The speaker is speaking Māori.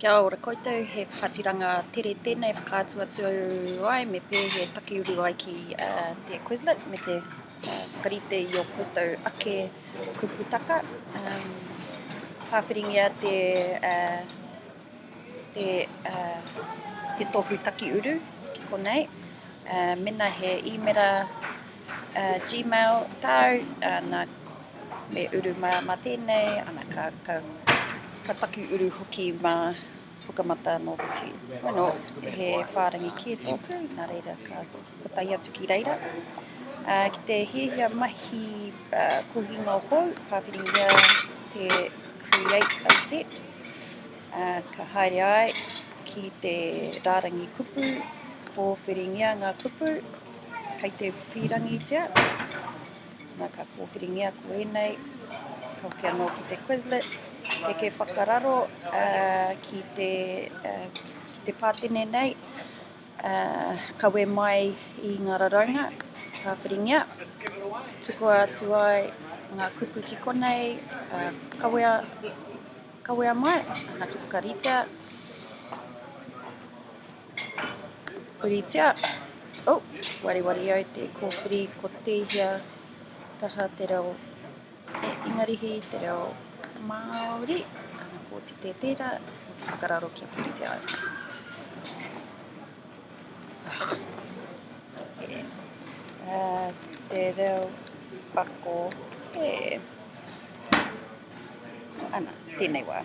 Kia ora koutou, he whakaaturanga tere tēnei whakaatu atu ai me pēhea taki uru ai ki te Quizlet me te whakarite i o koutou ake kuputaka. Um, whāwhiringia te, uh, te, uh, te tohu taki uru ki konei. Uh, mena he īmera uh, Gmail tāu, uh, nā Me uru māmā tēnei, ana ka, ka, ka taki uru hoki mā Pukamata anō hoki. Bueno, he whārangi kē tōku, nā reira ka, ka tae atu ki reira. Uh, ki te hiahia mahi uh, kohinga hou, pāwhiringia te create a set, uh, ka haere ai ki te rārangi kupu, pōwhiringia ngā kupu, kei te pīrangitia, Na ka kōwhiringia koinei ka hoki anō ki te Quizlet heke whakararo ki te ki te pātene nei kawe mai i ngā raraunga ka whiringia tukua atu ai ngā kupu ki konei kawea kawea mai ana ka whakaritea Puritia, oh, wariwari au te kōpuri ko tēhea taha te reo e Ingarihi, te reo Māori, ana kōti tē tērā, whakararo kia puritia au. Uh, te reo pako, he. Ana, tēnei wā.